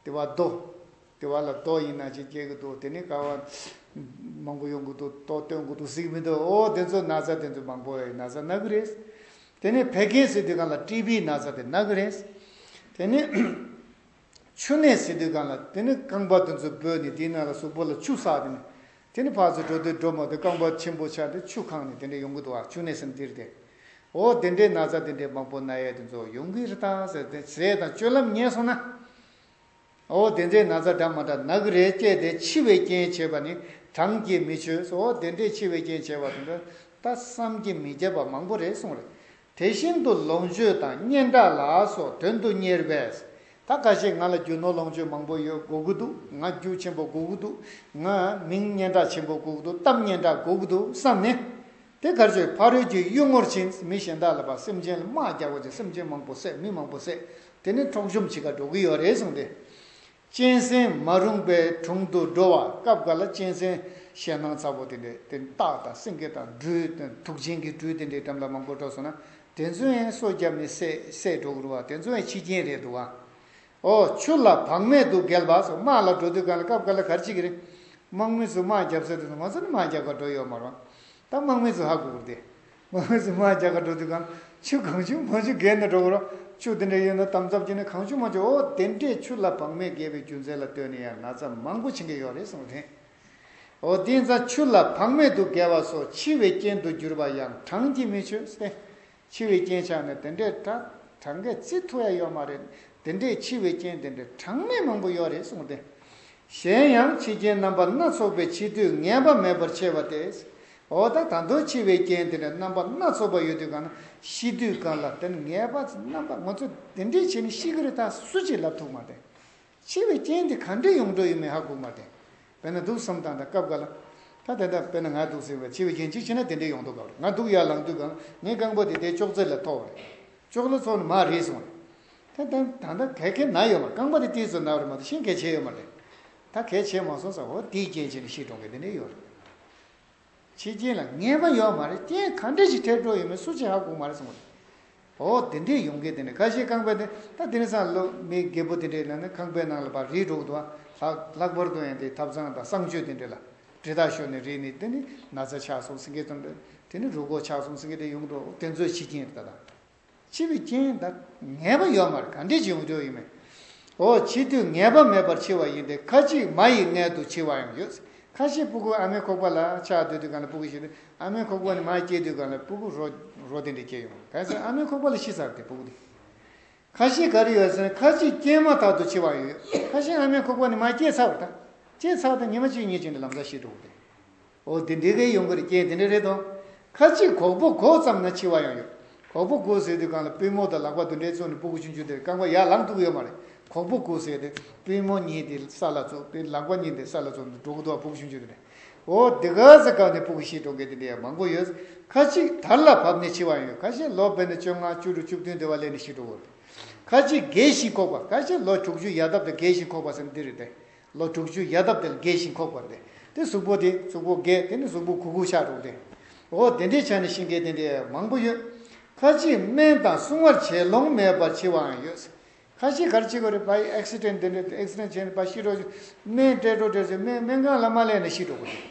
ལྟེ་བ་རྡོ། ལྟེ་བ་ལ་རྡོ་ཡིན་ན་ཅིག་སྐྱེ་གི་འདུག་དེ་ནི་ཀ་བ་མང་པོ་ཡོང་གི་འདུག་ཏོག་བཏོན་གི་འདུག་ཟིག་མི་འདུག་ཨོ་དེ་ཚོ་ན་ཚ་དེ་ཚོ་མང་པོ་ན་ཚ་ན་གི་རེད། དེ་ནི་བད་ཀན་སེ་དུས་གང་ལ་ཀྲི་བི་ན་ཚ་དེ་ན་གི་རེད། དེ་ནི་ཆུ་ནད་སེ་དུས་གང་ལ་དེ་ནི་རྐང་པ་དེ་ཚོ་སྦོས་ནས་དེའི་ནང་ལ་གཟུགས་པོ་ལ་ཆུ་བསགས་དེ་ནི་དེ་ནས་ཕར་ཚུར་འགྲོ་དུས་སྒྲོལ་མ་དུ་རྐང་པ་ཆེན་པོ་ཕྱགས་ཏེ་ཆུ་ཁང་ནས་དེ་འདྲའི་ཡོང་གི་འདུག་ཨ་ཆུ་ནས་སེམས་སྟེར་ཏེ། འོ་དེ་འདྲའི་ན་ཚ་དེ་འདྲའི་མང་པོ་ན་ཡལ་དེ་ཚོ་ཡོང་གི་རེད་ད་ཟེར་ཏེ་ཟས་དང་སྤྱོད་ལམ་ཉན་སོང་ན། འོ་དེ་འདྲའི་ན་ཚ་འདྲ་མ་འདྲ་ན་གི་རེད་སྐྱེས་དེ་འཆི་བའི་རྐྱེན་བྱེད་པ་ནི་གྲངས་ཀྱིས་མི་ཆོད་འོ་དེ་འདྲའི་འཆི་བའི་རྐྱེན་བྱེད་པ་དེ་འདྲ་ད་བསམ་གྱིས་མི་ཁྱབ་པ་མང་པོ་རེད་གསུངས་རེད་དེ་བཞིན་དུ་ལོངས་སྤྱོད་དང་སྙན་གྲགས་ལ་སོགས་དོན་དུ་གཉེར་བས། ད་ག་ཞིག་ང་ལ་རྒྱུ་ནོར་ལོངས་སྤྱོད་མང་པོ་ཡོད་དགོས་ཀྱི་འདུག་ང་རྒྱུ་ཆེན་པོ་དགོས་ཀྱི་འདུག་ང་མིང་སྙན་གྲགས་ཆེན་པོ་དགོས་ཀྱི་འདུག་གཏམ་སྙན་གྲགས་དགོས་ཀྱི་འདུག་བསམས་ནས། དེ་གར་ཆོས་ཕ་རོལ་གྱི་གཡུལ་ངོར་ཕྱིན་ཚེ་མི་གཞན་དག་ལ་བར་སེམས་ཅན་ལ་དམག་རྒྱག་པ་བྱས་སེམས་ཅན་མང་པོ་བསད་མི་མང་པོ་བསད་དེ་ནས་འཕྲོག་བཅོམ་བྱེད་ཁ་འགྲོ་གི་ཡོད་རེད་གསུངས་ཏེ། གཅན་ཟན་མ་རུངས་པའི་དྲུང་དུ་འགྲོ་བ་སྐབས་འགའ་ལ་གཅན་ཟན་ཞེད་སྣང་ཚ་བོ་དེ་འདྲས་དེ་སྟག་དང་སེང་གེ་དང་སྦྲུལ་དང་དུག་ཅན་གྱི་སྦྲུལ་དེ་འདྲས་འགྲམ་ལ་མང་པོ་འགྲོ་སོང་ན་དེ་ཚོའི་སོ་རྒྱབ་ནས་བསད་འགྲོ་དགོས་རུང་བ་དེ་ཚོ་ཡང་ཕྱི་རྐྱེན་རེད་འདུག་ཨོ། ཆུ་ལ་བག་མེད་དུ་བརྒལ་བ་སོགས་དམག་ལ་འགྲོ་དུས་གང་ལ་སྐབས་འགའ་ལ་གར་གཅིག་གི་རིང་དམག་མི་ཚོས་དམག་རྒྱབ་ས་དེ་ཚོ་ང་ཚོ་ནི་དམག་རྒྱག་པར་འགྲོ་ཡོད་མ་རུང་ད་དམག་མི་ཚོས་ཧ་གོ་དགོས་རེད། ངོ་བོས་སུ་མ་བྱ་དགའ་འགྲོ་དུས་གང་ཆུ་གང་ཆུ་མ་ཆུ་བརྒལ་ནས་འགྲོ་དགོས་རོགས་ཆུ་དེ་འདྲའི་ཡོད་ན་དམ་ཚབ་བྱས་ནས་གང་ཆུ་མ་ཆུ་འོ་དེ་འདྲའི་ཆུ་ལ་བག་མེད་བརྒལ་བའི་རྒྱུ་མཚན་ལ་ལྟོས་ནས་ཡང་ན་ཚ་མང་པོ་བྱེད་མཁན་ཡོད་རེད་གསུངས་དེ་འོ་དེ་ཚ་ཆུ་ལ་བག་མེད་དུ་བརྒལ་བ་སོགས་འཆི་བའི་རྐྱེན་དུ་གྱུར་པ་ཡང་གྲངས་ཀྱིས་མི་ཆོད་སེ། འཆི་བའི་རྐྱེན་ཆགས་ནས་དེ་འདྲའི་དྲ་གྲངས་ག་ཚིག་ཐུག་ཡ་ཡོད་མ་རེད་དེ་འདྲའི་འཆི་བའི་རྐྱེན་དེ་འདྲའི་གྲངས་མེད་མང་པོ་ཡོད་རེད་གསུངས་དེ་གཞན་ཡང་འཆི་རྐྱེན་རྣམ་པ་སྣ་ཚོགས་པའི་འཆི་དུས་ངན་པ་མེད་པར་འཆི་བ་སྟེ། འོ་ད་ད་དུང་འཆི་བའི་རྐྱེན་དེ་འདྲ་རྣམ་པ་སྣ་ཚོགས་པ་ཡོད་དུས་གང་ན་ཤི་དུས་གང་ལ་དེ་ནི་ངན་པ་རྣམ་པ་ང་ཚོ་དེ་འདྲའི་ཆེ་ནི་ཤི་གི་རེད་ད་སུ་གཅིག་ལབ་ཐུག་མ་དེ། འཆི་བའི་རྐྱེན་དེ་གང་འདྲའི་ཡོངས་གྲོགས་ཡོད་མེད་ཧ་གོ་མ་དེ། བས་ན་དུག་སོམས་དང་འདྲ་སྐབས་འགའ་ལ། ད་དེ་འདྲ་བས་ན་ང་དུག་སེལ་བས་འཆི་བའི་རྐྱེན་གཅིག་ཆེ་ན་དེ་འདྲའི་ཡོངས་གྲོགས་ག་རེད་ང་དུག་ཡར་ལངས་དུས་གང་ངའི་རྐང་པ་དེ་དེའི་ཅོག་ཙེ་ལ་ཐོགས་བ་རེད། ཅོག་ལོ་ཚོགས་ནི་མར་རེད་སོང་རེད། ད་ད་ད་ད་གད་གད་ན་ཡོད་པ་རྐང་པ་དེ་ཏིལ་ཙུ་ན་བར་མ་ཏོ་ཤིང་གད་བྱེད་ཡོད་མ་རེད། ད་གད་བྱེད་མ་སོང་ས་ཧོ་དེའི་རྐྱེན་བྱས་ནས་ཤི་གྲོང་གད་དེ་འདྲས་ཡོད་རེད། ཕྱི་རྐྱེན་ལ་ངན་པ་ཡོད་མ་རེད་རྐྱེན་ག་འདྲས་ཤིག་ཐེབས་འགྲོ་ཡོད་མེད་སུ་ཆེ་ཧ་གོ་མ་རེད་གསུངས་པ་རེད། ཧོ་དེ་འདྲས་ཡོང་གད་དེ་འདྲས་ག་བྱེད་རྐང་པ་དེ་ད་དེ་ནས་སང་ལོ་མི་རྒད་པོ་དེ་འདྲས་ལ་ནི་ཁང་པའི་ནང་ལ་བར་རིས་འགྲོ་གི་འདུག་ཨ་ལགས་ལྷག་པར་དུ་ཡང་དེ་ཐབ་ཚང་དང་གསང་སྤྱོད་དེ་འདྲས་ལ་གྲི་དག་ཤོར་ནས་རིས་ནི་དེ་ནི་ན་ཚ་ཆགས་སོང་སེང་གེ་ཙམ་རེད་དེ་ནི་རུ་སྒོག་ཆགས་སོང་སེང་གེ་དེ་ཡོང་འགྲོ་དེ་ཚོའི་ཕྱི་རྐྱེན་རེད་ད་ད། ཕྱི་བའི་རྐྱེན་བདག་ངེས་པ་ཡོད་མར་ག་འདྲས་ཀྱི་ཡོངས་གཅོག་ཡིན་མོད། འོ་འཆི་དུས་ངེས་པ་མེད་པར་འཆི་བ་ཡིན་ཏེ་ཁ་ཅིག་མ་ཡི་མངལ་དུ་འཆི་བའང་ཡོད། ཁ་ཤས་སྤུ་གུ་ཨ་མའི་ཁོག་པ་ལ་ཆགས་དུས་དེ་ག་ལ་སྤུ་གུ་ཞིག་སྟེ་ཨ་མའི་ཁོག་པ་ནས་མ་སྐྱེས་དུས་ག་ལ་སྤུ་གུ་རོ་རོ་དེ་འདྲས་སྐྱེས་ཡོང་མོད་གལ་སྲིད་ཨ་མའི་ཁོག་པ་ལ་ཤི་ཚར་ཏེ་སྤུ་གུ་དེ་ཁ་ཤས་ག་རེ་ཡོད་ཟེར་ན་ཁ་ཅིག་སྐྱེས་མ་ཐག་ཏུ་འཆི་བའང་ཡོད། ཁ་ཤས་ཨ་མའི་ཁོག་པ་ནས་མ་སྐྱེས་ཚར་བ་དང་སྐྱེས་ཚར་དང་ཉི་མ་གཅིག་གཉིས་གཅིག་འདྲ་ལམ་ཟག་ཤི་འགྲོ་བ་དེ། འོ་དེ་འདི་གའི་ཡོང་གི་རྐྱེན་དེ་འདྲ་རེད་དོ། ཁ་ཅིག་ཁོག་པོ་གོག་ཙམ་ན་འཆི་བ་ཡང་ཡོད། ཁོག་པོ་གོག་ཟེར་དུས་གང་ལ་པུས་མོ་དང་ལག་པ་དུ་འདྲའི་བཙོ་ནས་སྤུ་གུ་ཆུང་ཆུང་དེར་རྐང་པ་ཡར་ལངས་ཐུབ་ཀྱི་ཡོད་མ་རེད། ཁོག་པོ་གོག་ཟེར་ཏེ་པུས་མོ་གཉིས་དེ་ས་ལ་བཙོ་དེ་ལག་པ་གཉིས་དེ་ས་ལ་བཙོ་ནས་འགྲོ་གི་འདུག་ཨ་སྤུ་གུ་ཆུང་ཆུང་དེ་འདྲ། འོ་དེ་ག་ས་གང་ནས་སྤུ་གུ་ཤི་འགྲོ་གི་དེ་འདྲ་ཡང་མང་པོ་ཡོད། ཁ་ཅིག་དར་ལ་བབས་ནས་འཆི་བ་ཡང་ཡོད་ཁ་ཤས་ལོ་བརྒྱད་ནས་བཅོ་ལྔ་བཅུ་དྲུག་བཅུ་བདུན་དེ་བ་སླེབས་ནས་ཤི་འགྲོ་གི་རེད། ཁ་ཅིག་རྒས་ཤིང་འཁོགས་པ་ཁ་ཤས་ལོ་དྲུག་ཅུ་ཡལ་སྟབས་དང་རྒས་ཤིང་འཁོགས་པ་ཟེར་ན་འདི་རེད་དེ། ལོ་དྲུག་ཅུའི་ཡལ་འདབ་དེར་རྒས་ཤིང་འཁོགས་པ་རེད། དེ་གཟུགས་པོ་དེ་གཟུགས་པོ་རྒས་དེ་ནི་གཟུགས་པོ་གུག་གུག་ཆགས་རུང་རེད། འོ་དེ་འདྲའི་ཆ་ནས་ཤིང་རྒས་དེ་འདྲའི་མང་པོ་ཡོད། ཁ་ཅིག་སྨན་དང་སྲུང་བར་བྱེད་ལོང་མེད་པར་འཆི་བའང་ཡོད། ཁ་ཅིག་གར་འཆི་དགོས་རེད་བཱི Accident དེ་འདྲའི Accident བྱས་ནས་བཱི་ཤི་འགྲོ་ཞིག་སྨན་སྤྲད་འགྲོ་སྤྲད་ཞིག་སྨན་སྨན་ཁང་ལ་མ་གླས་ནས་ཤི་འགྲོ་དགོས་རེད།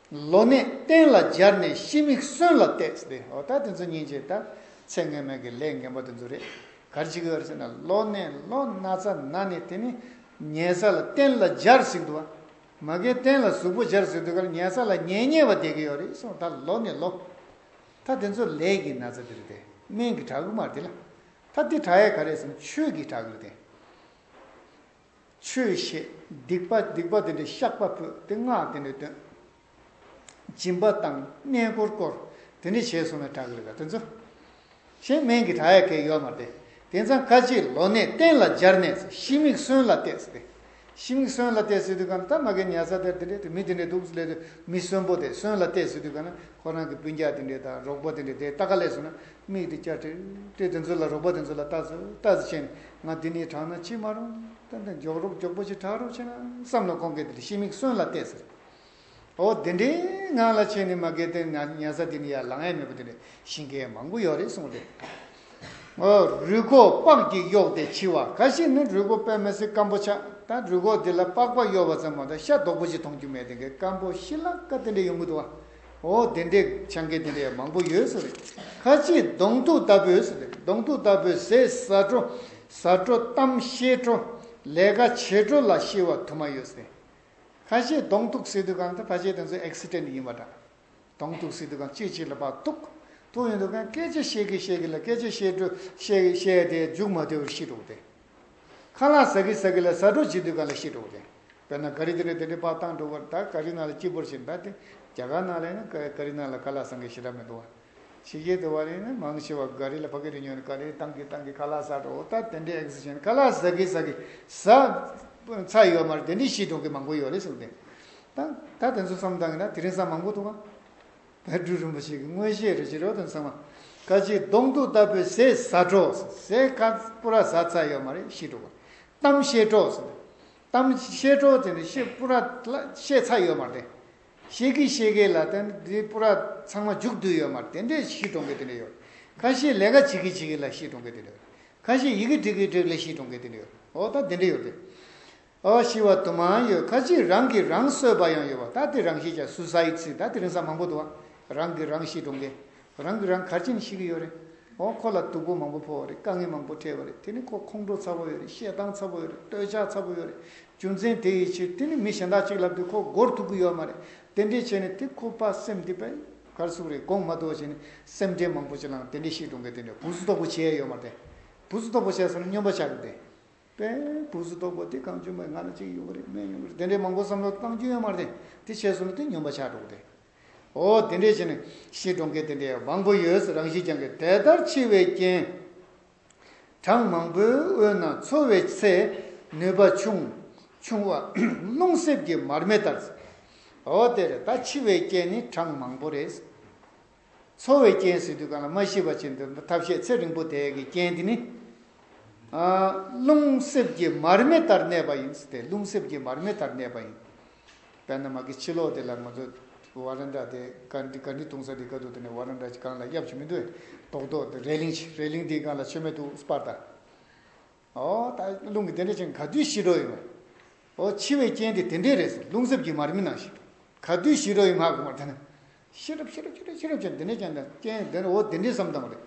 ལོ་ནད་གཏན་ལ་སྦྱར་ནས་ཤི་མིག་གསོན་ལ་བཏེགས་ཏེ་ཨོ་ད་དེ་ཚོ་ཉིན་བྱེད་ད་ཚེ་སྔོན་མེད་ཀྱི་ལས་ངན་པ་དེ་ཚོ་རེད་གར་ཅི་གི་ཨོ་ཟེར་ན་ལོ་ནད་ལོ་ན་ཚ་ན་ནི་དེ་ནི་ཉལ་ས་ལ་གཏན་ལ་སྦྱར་ཟིག་འདུག་ཨ་མ་ཀའི་གཏན་ལ་གཟུགས་པོ་སྦྱར་ཟིག་འདུག་གར་ཉལ་ས་ལ་ཉལ་ཉལ་བ་བསྡད་ཀྱི་ཡོད་རེད་གསུངས་ད་ལོ་ནི་ལོ་ད་དེ་ཚོ་ལས་ཀྱི་ན་ཚ་དེ་རེད་དེ་སྨན་གྱི་བྲག་གུ་མ་རེད་དེ་ལ་ད་དེ་བྲག་ཡས་ག་རེད་བསམ་ཆོས་ཀྱི་བྲག་གུ་རེད་དེ། ཆོས་བཤད། སྡིག་པ་སྡིག་པ་དེ་འདྲའི་བཤགས་པ་ཕུད་དེ་སྔགས་དེ་འདྲས་བཏོན། སྦྱིན་པ་བཏང་གནས་བསྐོར་བསྐོར་དེ་འདྲས་བྱས་སོང་ན་གྲགས་ཡོད་ག་དེ་ཚོ། གཞན་སྨན་གྱི་གྲགས་ཡག་གེ་ཡོད་མ་རེད་དེ་མཚང་ཁ་ཅིག་ལོ་ནད་གཏན་ལ་སྦྱར་ནས་ཚེ་ཤི་མིག་གསོན་ལ་བལྟས་ཟེར། ཤི་མིག་གསོན་ལ་བལྟས་ཟེར་དུས་གམ་ད་མ་གའི་ཉལ་ས་དེར་དེ་འདྲས་དེ་མི་དེ་འདྲས་འདུག་སླད་དུ་མི་གསོན་པོ་དེ་གསོན་ལ་བལྟས་ཟེར་དུས་ག་ན་ཁོ་རང་གི་སྤུན་རྒྱག་དེ་འདྲས་དང་རོགས་པོ་དེ་འདྲས་དེ་ལྟ་ག་ལས་སོང་ན་མིག་དེ་སྐྱར་དྲིལ། དྲིལ་དེ་ཚོའི་ལ་རོགས་པ་དེ་ཚོ་ལ་བལྟ། བལྟ་ཟེར་ཕྱིན་ང་འདི་ནས་དྲངས་ན་ཕྱི་མ་རུང། ཏན་ཏན་མགྱོགས་རོགས་མགྱོགས་པོ་ཞིག་དྲགས་རོགས་ཕྱིན་བསམ་ལ་ཁོང་གིས་དེ་ལ་ཤི་མིག་གསོན་ལ་བལྟས་ཟེར། ཨོ་དེ་འདྲའི་ངང་ལ་ཕྱིན་ནས་མ་གལ་ཏེ་ན་ཉལ་ས་འདི་ནས་ཡར་ལངས་ཡས་མེད་པ་དེ་ནས་ཤི་མཁན་མང་པོ་ཡོད་རེད་གསུངས་ཏེ། ངོ། རུས་ཁོག་ལྤགས་ཀྱིས་གཡོགས་ཏེ་འཆི་བ་ག་ཤེད་ནི་རུས་ཁོག་པད་མ་སྲིན་སྐམ་པོ་ཆགས་ད་རུས་ཁོག་འདི་ལ་ལྤགས་པ་གཡོགས་པ་ཙམ་མ་གཏོགས་ཤ་རྡོག་པོ་ཞིག་མཐོང་རྒྱུ་མེད་དེ་གའི་སྐམ་པོ་ཤི་ལ་ཀ་དེ་འདྲས་ཡོང་གི་འདུག་བ། ཨོ་དེ་འདྲའི་ཆང་གི་དེ་འདྲའི་མང་པོ་ཡོད་ས་རེད། ཁ་ཆེའི་གདོང་ཐུག་ལྟ་བུའི་ས་རེད་གདོང་ཐུག་ལྟ་བུའི་ཟས་ཟ་བྲོ། ཟ་བྲོ་གཏམ་བཤད་བྲོ། ལས་ཀ་བྱེད་བྲོ་ལ་ཤི་བ་དུ་མ་ཡོད་ས་རེད། ཁ་ཆེའི་གདོང་ཐུག་སི་ཏུ་ཁང་དེ་ཕ་ཆེ་དེ་ཚོའི accident ཡིན་པ་འདྲ། གདོང་ཐུག་སི་ཏུ་ཁང་ཅི་ཞིག་ལ་བ་ཐུག། ཐུག་ཡོད་འདུག་ཁན་སྐད་ཆ་བཤད་གི་བཤད་གི་ལ་སྐད་ཆ་བཤད་བྲོ་བཤད་བཤད་དེ་མཇུག་མ་དེ་བར་ཤི་འགྲོ་དེ། ཁ་ལག་ཟ་གི་ཟ་གི་ལ་ཟ་གྲོགས་བྱེད་དུས་ག་ལ་ཤི་གྲོགས་ཀྱང། དཔེར་ན་ག་རི་དེ་ལས་དེ་འདྲའི་པགས་གཏང་འགྲོ་བར་ད་ག་རི་ནང་ལ་སྐྱིད་པོར་ཞིག་འདའ་སྟེ། རྒྱ་གར་ནང་ལ་ཡིན་ན་ག་ག་རི་ནང་ལ་ཁ་ལག་བཟང་གི་ཞེ་དྲག་མི་འདུག་བ། ཕྱི་རྒྱལ་དུ་བ་རེ་ཡིན་ན་མང་ཆེ་བ་ག་རི་ལ་ཕ་གི་རི་ཉོས་ནས་ག་རི་གཏང་གི་གཏང་གི་ཁ་ལག་ཟ་གྲོགས་ད་དེ་འདྲའི་ཨེ་གཟི་ཞིག་ཁ་ལག་ཟ་གི་ཟ་གི་ཟ། ཚ་ཡོད་མར་དེ་འདྲའི་ཤི་གྲོགས་ཀྱི་མང་པོ་ཡོད་རེད་གསུངས་ཏེ། ད་ད་དེ་ཚོ་བསམ་བཏང་གི་ན་དེ་རིང་བསམ་མང་པོ་འདུག་བ། བན་སྤྲུལ་རིན་པོ་ཆེ་གི་མངོན་ཤེས་རེ་ཆེ་རོ་དང་མཚུངས་པ་ཀ་ཅིག་གདོང་གཏུག་ལྟ་བུའི་ཟས་བཟའ་གྲོགས་ཟས་ཁ་སྤུ་ར་བཟའ་ཚ་ཡོད་མ་རེད་ཤེས་གྲོགས་པ། གཏམ་བཤད་གྲོགས་ཟེར། གཏམ་བཤད་གྲོགས་དེ་ནི་ཤེས་སྤུ་ར་བཤད་ཚ་ཡོད་མ་རེད། ཤེས་གི་ཤེས་གི་ལ་དེ་འདྲའི་སྤུ་ར་ཚང་མ་འཇུག་བསྡུས་ཡོད་མ་རེད་དེ་འདྲའི་ཤེས་གྲོགས་མཁན་དེ་འདྲ་ཡོད། ཁ་ཤེས་ལས་ཀ་བྱེད་གི་བྱེད་གི་ལ་ཤེས་གྲོགས་མཁན་དེ་འདྲ་ཡོད། ཁ་ཤེས་ཡི་གེ་འབྲི་གི་འབྲི་གི་ལ་ཤེས་གྲོགས་མཁན་དེ་འདྲ་ཡོད། འོ་ད་དེ་འདྲ་ཡོད་རེད། ཨ་ཤི་བ་དུ་མ་ཡོད་ཁ་ཅིག་རང་གིས་རང་གསོད་པ་ཡང་ཡོད་བ་ད་དེ་རང་ཤི་བྱ Suicide ཚིག་ད་དེ་རིང་ས་མང་པོ་དུ་བ་རང་གིས་རང་ཤི་འགྲོ་མཁན་རང་གིས་རང་གར་ཅིང་ཤི་གི་ཡོད་རེད་འོ་ཁོ་ལ་སྡུག་པོ་མང་པོ་ཕོག་བ་རེད་དཀའ་ངལ་མང་པོ་འཕྲད་བ་རེད་དེ་ནི་ཁོ་ཁོང་ཁྲོ་ཚ་པོ་ཡོད་རེད་བཤད་སྟངས་ཚ་པོ་ཡོད་རེད་སྟོད་ཆགས་ཚ་པོ་ཡོད་རེད་རྒྱུ་མཚན་དེ་ཡི་ཕྱིར་དེ་ནི་མི་གཞན་དག་ཅིག་ལབ་དུས་ཁོ་སྒོར་ཐུག་གི་ཡོད་མ་རེད་དེ་འདྲས་བྱས་ནས་དེ་ཁོ་པ་སེམས་འདི་པའི་གར་སུག་རེད་དགོངས་མ་གཏོགས་བྱས་ནས་སེམས་ཁྲལ་མང་པོ་བྱེད་ལང་དེ་འདྲས་ཤི་འགྲོ་མཁན་དེ་འདྲས་བུ་གཟུ་དོག་པོ་བྱས་ཡོད་མ་རེད་བུ་གཟུ་དོག་པོ་བྱས་ཟེར་ན་སྨྱོན་པ་ཆགས་གི་རེད། པས། བུག་སུ་རྡོག་པོ་དེ་གང་བྱུང་བས་ང་ལ་གཅིག་ཡོང་གི་རེད་སྨན་ཡོང་གི་རེད་དེ་འདྲའི་མང་པོ་བསམ་བློ་བཏང་རྒྱུ་ཡོད་མ་རེད་དེ་བྱས་སོང་ནས་དེ་སྨྱོན་པ་ཆགས་འགྲོ་གི་རེད། ཨོ་དེ་འདྲས་བྱས་ནས་ཤི་འགྲོ་མཁན་དེ་འདྲས་མང་པོ་ཡོད་རང་ཤི་རྐྱང་གི་དེ་ལྟར་འཆི་བའི་རྐྱེན་གྲངས་མང་པོའི་དབུས་ན་འཚོ་བའི་ཚེ་ནུས་པ་ཆུང་ཆུང་བ་རླུང་གསེབ་ཀྱི་མར་མེ་ལྟར། ཨོ་དེ་རེད་ད་འཆི་བའི་རྐྱེན་ནི་གྲངས་མང་པོ་རེད། འཚོ་བའི་རྐྱེན་ཟེར་དུས་གང་ལ་མ་ཤེས་པ་བྱེད་འདོད་ན་ཐབས་ཤེས་ཚེ་རིང་པོ་དེ་གའི་རྐྱེན་དེ་ནི། རླུང་གསེབ་ཀྱི་མར་མེ་ལྟར་གནས་པ་ཡིན། དེ་རླུང་གསེབ་ཀྱི་མར་མེ་ལྟར་གནས་པ་ཡིན། དཔེར་ན་མ་གི་ཕྱི་ལོགས་དེ་ལ་ང་ཚོ་བ་རན་དྲ་དེ་ག་འདི་ག་འདི་བཏུང་ས་འདི་ག་འདུག་དེ་ནས་བ་རན་དྲ་གང་ལ་གཡབ་བྱེད་མི་འདོད་དོག་དོག་རལ་ལིང་ཆེ་རལ་ལིང་དེའི་སྒང་ལ་ཆོས་མེད་དུ་སྤར་དང། རླུང་གི་དེ་འདྲ་ཅན་ག་དུས་ཞི་འགྲོ་ཡོང། འཆི་བའི་རྐྱེན་དེ་དེ་འདྲས་རེད་ཟེར་རླུང་གཟེབ་ཀྱི་མར་མེ་ནང་ཞིག་ག་དུས་ཞི་འགྲོ་ཡོང་ང་དགོངས་པ་དེ་ན། ཤི་རབས་ཤི་རབས་ཤི་རབས་ཤི་རབས་ཅན་དེ་འདྲས་ཅན་དང་རྐྱེན་དེ་འདྲ་འོ་དེ་འདྲས་སམ་དང་པོ་རེད།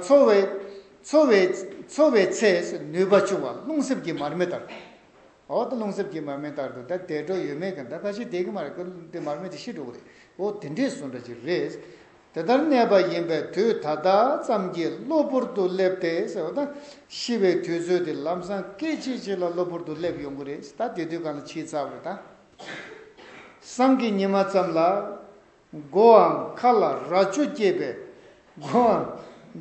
འཚོ་བའི་འཚོ་བའི་འཚོ་བའི་ཚེ་ནུས་པ་ཆུང་བ་རླུང་གཟེབ་ཀྱི་མར་མེ་ལྟར། འོག་ཏུ་རླུང་གསེབ་ཀྱི་མར་མེ་ལྟར་དུ་ད་དད་འགྲོ་ཡོད་མེད་གི་ད་ཁ་ཤས་དེ་གི་མ་རེད་ཁུ་དེ་མར་མེ་དེ་ཤི་འགྲོ་གི་རེད་འོ་དེ་འདྲས་སུ་འདྲ་གི་རེད། དེ་ལྟར་གནས་པ་ཡིན་པས་དུས་ད་ལྟ་ཙམ་གྱི་གློ་བུར་དུ་སླེབས་ཏེ་ཟེར་བ་དང། ཤི་བའི་དུས་ཚོད་དེ་ལམ་སང་སྐད་ཅིག་གཅིག་ལ་གློ་བུར་དུ་སླེབས་ཡོང་གི་རེད་ད་དེ་དུས་གང་ལ་ཕྱིའི་རྩ་བར་ད། སང་གི་ཉི་མ་ཙམ་ལ། སྒོའམ་མཁའ་ལ་རྭ་ཅོ་སྐྱེས་པའི།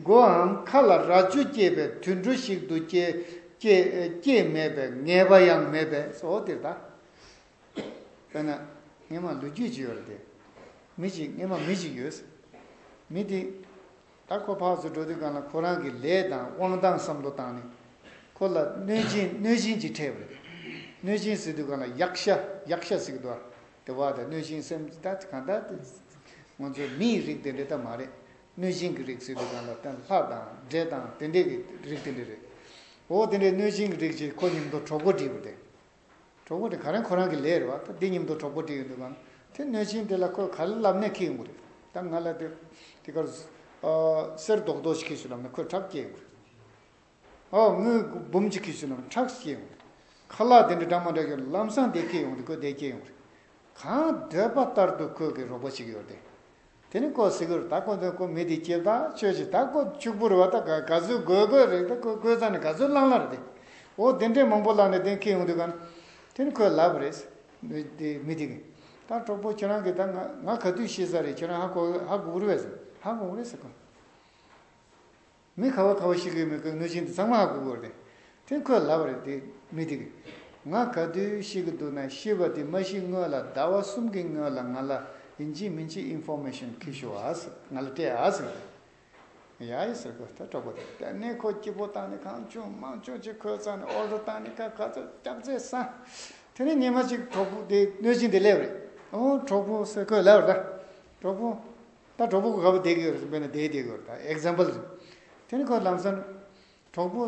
སྒོའམ་མཁའ་ལ་རྭ་ཅོ་སྐྱེས་པའི་དུད་འགྲོ་ཞིག་ཏུ་སྐྱེས་མེད་པའི་ངེས་པ་ཡང་མེད་པས་སོ། དེ་ལྟ་བས་ན་སྔས་མ་ལུས་རྒྱུད་ཅིག་ཡོད་ལ་དེ། མི་ཞིག་སྔས་མ་མི་ཞིག་ཡོད། མི་དེ། ད་ཁོ་ཕག་སུ་འགྲོ་དུས་གང་ལ་ཁོ་རང་གི་ལས་དང་དབང་ལྡང་བསམ་བློ་བཏང་ནས། ཁོ་ལ་གནོད་སྦྱིན་གནོད་སྦྱིན་གྱིས་ཁྲེལ་བ་རེད། གནོད་སྦྱིན་ཟེར་དུས་གང་ལ་ཡག་ཤ་ཡག་ཤ་ཟེར་གི་འདུག་ཨ། དེ་བ་དང་གནོད་སྦྱིན་སེམས་ཅི་ད་གང་ད། ང་ཚོ་མི་ཡི་རིགས་དེ་འདྲས་ད་མ་རེད། གནོད་སྦྱིན་གྱི་རིགས་ཟེར་དུས་གང་ལ་ལྷ་དང་འདྲས་དང་དེ་འདྲས་ཀྱི་རིགས་དེ་འདྲས་རེད། འོ་དེ་འདྲས་གནོད་སྦྱིན་གྱི་རིགས་ཀྱིས་ཁོ་ཉིན་མདོ་གྲོགས་པོ་བསྒྲིགས་པ་དེ། གྲོགས་པོ་དེ་ག་རེ་ཁོ་རང་གི་ལས་རེད་བ་ད་དེ་སྙིང་དོར་གྲོགས་པོ་དེ་ཡོད་འདུག་གམ་དེ་གནོད་ཆེན་དེ་ལ་ཁོས་ག་ལ་ལབ་ནས་ཁེལ་ཡོང་གི་རེད་ད་ང་ལ་དེ་དེ་གར་གསེར་རྡོག་རྡོག་ཅིག་ཁེལ་ཤུགས་ལབ་ན་ཁོས་ཁྲག་སྐྱེལ་ཡོང་གི་རེད་ཨོ་དངུལ་འབུམ་ཅིག་ཁེལ་ཤུགས་ལབ་ན་ཁྲག་སྐྱེལ་ཡོང་གི་རེད་ཁ་ལག་དེ་འདྲ་འདྲ་མོ་འདྲ་ཁེལ་ལབ་ལམ་སང་དེ་ཁེལ་ཡོང་གི་རེད་ཁོས་དེ་སྐྱེལ་ཡོང་གི་རེད་གང་འདོད་པ་ལྟར་དུ་ཁོས་གི་རོགས་པ་ཅིག་ཡོད་དེ་དེ་ནི་ཀོ་སི་ཀོར་དག་ཀོ་འདོན་ཀོ་མི་དེ་སྐྱིབས་དག་ཆོས་ཀྱི་དག་ཀོ་ཕྱུག་པོར་བ་དག་ག་ཚོད་དགོས་དགོས་རེག་དག་ཀོ་ཀོས་ཚ་ནི་ག་ཚོད་བླང་བླང་རེད་འོ་དེ་འདྲའི་མང་པོ་བླང་ནས་དེ་ཁེ་ཡོང་དུས་ག་དེ་ནི་ཁོས་ལབ་པ་རེད་མི་དེ་མི་དེ་གིས་དག་གྲོགས་པོ་ཁྱོད་རང་གིས་དག་ང་ག་དུས་ཤེས་ས་རེད་ཁྱོད་རང་ཧ་གོ་ཧ་གོ་རེད་ཧ་གོ་རེད་ཟེར་ཀོ། མི་ཁ་བ་ཁ་བ་ཞིག་གིས་མི་ཁོའི་གནོད་སྦྱིན་དེ་ཚང་མ་ཧ་གོ་གོ་རེད་དེ་ཁོས་ལབ་པ་རེད་དེ་མི་དེ་གིས། ང་ག་དུས་ཤི་གི་འདུག་ན་ཤི་བ་དེ་མ་ཤི་སྔོན་ལ་ཟླ་བ་གསུམ་གི་སྔོན་ལ་ང་ལ་ཡིན་གཅིག་མིན་གཅིག Information ཁི་ཤོ་ཨ་ཟེར་ང་ལ་སྤྲད་ཨ་ཟེར་གི། ཡ་ཡ་ཟེར་གི་ད་གྲོགས་པོ་རེད་དེ་ནས་ཁོ་སྐྱིད་པོ་བཏང་ནས་གང་བྱུང་དམངས་བྱུང་ཅིག་ཁོས་ཚང་ནས Order བཏང་ནས་ཁ་ཁ་ཚོད་སྐྱག་རྫས་ཟ། དེ་ནས་ཉི་མ་གཅིག་གྲོགས་པོ་དེ་གནོད་སྦྱིན་དེ་སླེབས་རེད་ཨོ་གྲོགས་པོ་ཟེར་ཁོས་ལབ་རེད་ད། གྲོགས་པོ། ད་གྲོགས་པོ་ག་པོ་བསྡད་གི་རེད་བསམ་པས་ན་བསྡད་བསྡད་གི་རེད་ད example རེད། དེ་ནས་ཁོས་ལམ་སང། གྲོགས་པོ།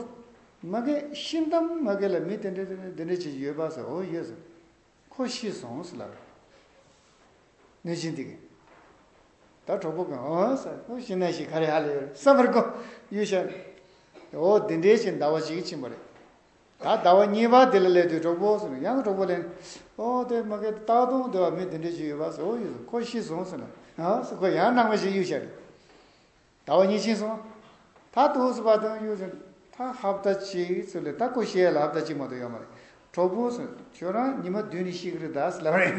ང་གི་ཤིང་གཏམ་ང་གི་ལ་མི་དེ་འདྲ་དེ་འདྲ་ཅིག་ཡོད་པ་ཟེར་འོ་ཡོད་ཟེར། ཁོ་ཤི་སོང་ཟེར་ལབ། གནོད་སྦྱིན་དེ་གིས། ད་གྲོགས་པོ་གིས་འོ་ཟེར་ཁོ་ཤི་ན་ཤི་ག་རེ་ཧ་ལས་ཡོད་རེད་བསམ་པར་གོ། གཡུལ་ཞལ། འོ་འདི་འདྲའི་ཅིག་འདའ་བ་ཞིག་ཕྱིན་པ་རེད། ད་ལྟ་བ་གཉིས་པ་དེ་ལ་ལས་དུས་གྲོགས་པོ་ཟེར་ནས་ཡང་གྲོགས་པོ་ལེན། ཨོ་དེ་མ་གལ་ཏེ་སྟག་གདོང་དེ་བ་མི་དེ་འདྲས་ཞིག་ཡོད་པ་ཟེར་ཨོ་ཡོད་ཟེར་ཁོ་ཤི་སོང་ཟེར་ན་ཨ་ཟེར་ཁོ་ཡང་ནང་མི་ཞིག་གཡུག་བྱ་རེད། ད་བ་གཉིས་ཕྱིན་སོང། ད་ཐུགས་སུ་བ་དོན་གཡུག་ཟེར་ན་ད་ཧབ་བལྟ་ཅིག་ཟེར་ལེ་ད་ཁོ་ཤི་ཡ་ལ་ཧབ་བལྟ་ཅིག་མ་གཏོགས་ཡོད་མ་རེད། གྲོགས་པོ་ཟེར་ན་ཁྱོད་རང་ཉི་མ་བདུན་ནས་ཤི་གི་རེད་ད་ཟེར་ལབ་རེད།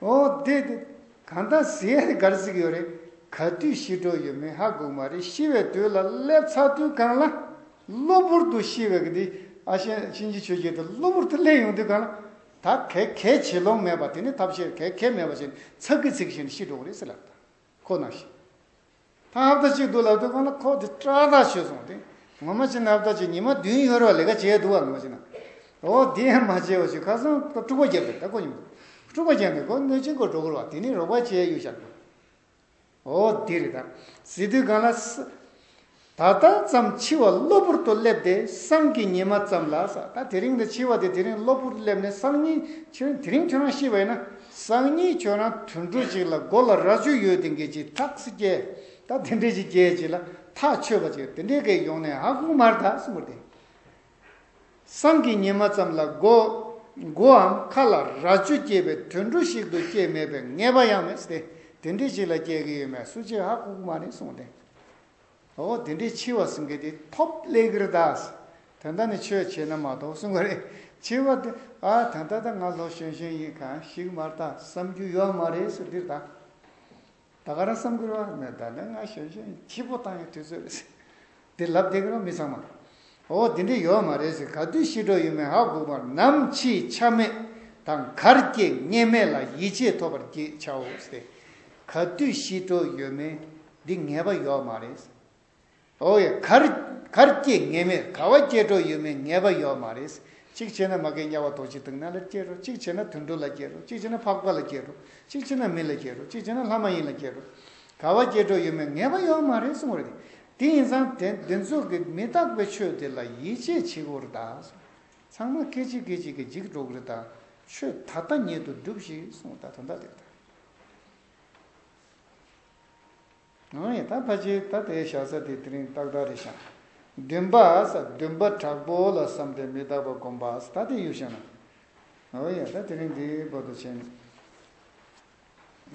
ཨོ་དེ་དེ། གང་ལྟར་གཟི་ཧའི་སྒར་གཟིགས་ཡོད་རེད། ག་དུས་ཤི་འགྲོ་ཡོད་མེད་ཧ་གོ་མ་རེད་ཤི་བའི་དུས་ལ་སླེབས་ཚར་དུས་གང་ལ། གློ་བུར་དུ་ཤི་བའི་གི་དེ་ཨ་ཤེ་གཤིན་རྗེ་ཆོས་རྒྱལ་དེ་གློ་བུར་དུ་སླེབས་ཡོང་དུས་གང་ལ། ད་གལ་གལ་བྱེད་ལོང་མེད་པ་དེ་ནི་ཐབས་ཤེས་གལ་གལ་མེད་པ་བཞིན་ཚག་གི་ཚིག་བཞིན་ཤི་འགྲོ་གི་རེད་ཟེར་ལབ་དང། ཁོ་ན་ཤི། ཐང་ཧབ་ད་ཅིག་འདུག་ལབ་དུས་ཁོ་ན་ཁོག་དེ་སྐྲ་དག་ཆོད་སོང་སྟེ། ངོ་མ་ཕྱི་ན་ཧབ་ད་ཅིག་ཉི་མ་བདུན་ཡོལ་བར་ལས་ཀ་བྱས་འདུག་བ་ངོ་མ་ཕྱི་ན། འོ་དེ་ཡང་མ་བྱས་བ་ཞིག་ཁ་སང་ཁོ་དཀྲུག་པ་བརྒྱབ་པས་ད་ཁོ་ཉིན་དཀྲུག་པ་བརྒྱབ་ནས་ཁོ་གནོད་སྦྱིན་སྒོར་འགྲོ་དགོས་བ་དེ་ནི་རོགས་པ་བྱས་ཡོད་ཤག་འདུག། འོ་དེ་རེད་ད། ཟེར་དུས་གང་ལ། ད་ལྟ་ཙམ་འཆི་བ་གློ་བུར་དུ་སླེབས་ཏེ་སང་གི་ཉི་མ་ཙམ་ལ་ཟ་ད་དེ་རིང་འདི་འཆི་བ་དེ་དེ་རིང་གློ་བུར་སླེབས་ནས་སང་ཉིན་འཆི་བ་དེ་རིང་ཁྱོད་རང་ཤི་བ་ཡིན་ན་སང་ཉིན་ཁྱོད་རང་དུད་འགྲོ་ཅིག་ལ་མགོ་ལ་རྭ་ཅོ་ཡོད་དེ་འགས་ཅིག་ཐག་སི་སྐྱེ་ད་དེ་འདྲས་ཅིག་སྐྱེ་ཅིག་ལ་ཐག་ཆོད་པ་ཅིག་དེ་འདྲས་འགས་ཡོང་ནས་ཧ་གོང་མར་ད་སི་མུར་དེ། སང་གི་ཉི་མ་ཙམ་ལ་མགོ། མགོའམ་ཁ་ལ་རྭ་ཅོ་སྐྱེས་པའི་དུད་འགྲོ་ཞིག་ཏུ་སྐྱེས་མེད་པའི་ངེས་པ་ཡང་མེད། དེ་འདྲི་ཞིག་ལ་སྐྱེ་གི་ཡོད་མེད་སུ་གཅིག་ཧ་གོ་གི་མ་རེད་གསུངས་ཏེ། ཨོ་དེ་འདྲའི་འཆི་བ་གསུང་གི་དེ་ཐོབ་ལེ་གིར་གདའ། དོན་དག་ནི་ཆོས་བྱས་ན་མ་གཏོགས་གསུང་གི་རེད། འཆི་བ་དེ་ཨ་ད་ད་ད་ང་ལྷོ་གཞོན་གཞོན་ཡིན་གང་ཞིག་མ་གཏགས་བསམ་རྒྱུ་ཡོད་མ་རེད་ཟེར་དུས་ད། ད་ག་རང་བསམ་ཁུར་བ་ནི་ད་ནི་ང་ཞོན་ཞོན་འཆི་འཕོ་བཏང་ཡའི་དུས་ཚོད་རེད་ཟེར། དེ་ལབ་བསྡད་ཀྱི་རོགས་མི་ཚང་མ། འོ་དེ་འདྲའི་ཡོད་མ་རེད་ཟེར་ག་དུས་ཤི་འགྲོ་ཡོད་མེད་ཧ་གོ་བར་ནམ་འཆི་ཆ་མེད་དང་གར་སྐྱེ་ངེས་མེད་ལ་ཡིད་ཆེས་ཐོབ་པར་གྱིས་ཆའོ་ཟེར། ག་དུས་ཤི་འགྲོ་ཡོད་མེད་འདི་ངེས་པ་ཡོད་མ་རེད་ཟེར། འོ་ཡ། གར། གར་སྐྱེས་ངེས་མེད་ག་བ་སྐྱེས་འགྲོ་ཡོད་མེད་ངེས་པ་ཡོད་མ་རེད། གཅིག་བྱས་ན་མ་གས་དམྱལ་བ་རྡོ་རྗེ་དང་ན་ལེར་སྐྱེས་འགྲོ་གཅིག་བྱས་ན་དུད་འགྲོ་ལ་སྐྱེས་འགྲོ་གཅིག་བྱས་ན་འཕགས་པ་ལ་སྐྱེས་འགྲོ་གཅིག་བྱས་ན་མི་ལ་སྐྱེས་འགྲོ་གཅིག་བྱས་ན་ལྷ་མ་ཡིན་ལ་སྐྱེས་འགྲོ། ག་བ་སྐྱེས་འགྲོ་ཡོད་མེད་ངེས་པ་ཡོད་མ་རེད་གསུངས་རེད། དེ་ཡིན་ཙང་དེ་འདི་ཚོ་གི་མི་རྟག་པའི་ཆོས་དེ་ལ་ཡིད་ཆེས་བྱེད་དགོས་རེད་ད། ཚང་མ་སྐད་ཅིག་སྐད་ཅིག་གིས་འཇིག་འགྲོ་གི་རེད་ད། ཆོས་ད་ལྟ་ཉིད་དུ་སྒྲུབས་ཤིག་གསུངས་ད་དོན་དག་དེ་རེད་ད། ང་ཡི་དྭགས་ཕ་ཆེའི་ད་ལྟའི་ཞག་ས་དེ་དེ་རིང་ཏག་ཏག་རེད་ཞག་བདུན་པ་ས་བདུན་པ་དྲག་པོ་ལ་བསམ་ཏེ་མི་རྟག་པ་སྒོམ་པ་ས་ད་དེ་ཡུལ་ཞག་ན་ཨོ་ཡ་ད་དེ་རིང་འདི་བོ་ད་ཕྱིན་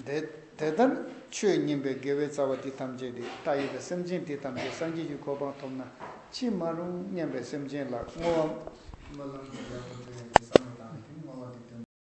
དེ་དེ་ལྟར་ཆོས་མཉན་པའི་དགེ་བའི་རྩ་བ་འདི་ཐམས་ཅད་དེ་ལྟ་ཡོད་པའི་སེམས་ཅན་དེ་ཐམས་ཅད་སངས་རྒྱས་ཀྱི་གོ་འཕང་ཐོབ་ན་ཅི་མ་རུང་སྙམ་པའི་སེམས་ཅན་ལ་བསྔོ་བ། སྨོན་ལམ་དེ་ཡག་པོ་བྲིས་ཡོད་འདུག་བསམ་བློ་བཏང་ནས་དེ་བསྔོ་བ་དེ་བཏོན།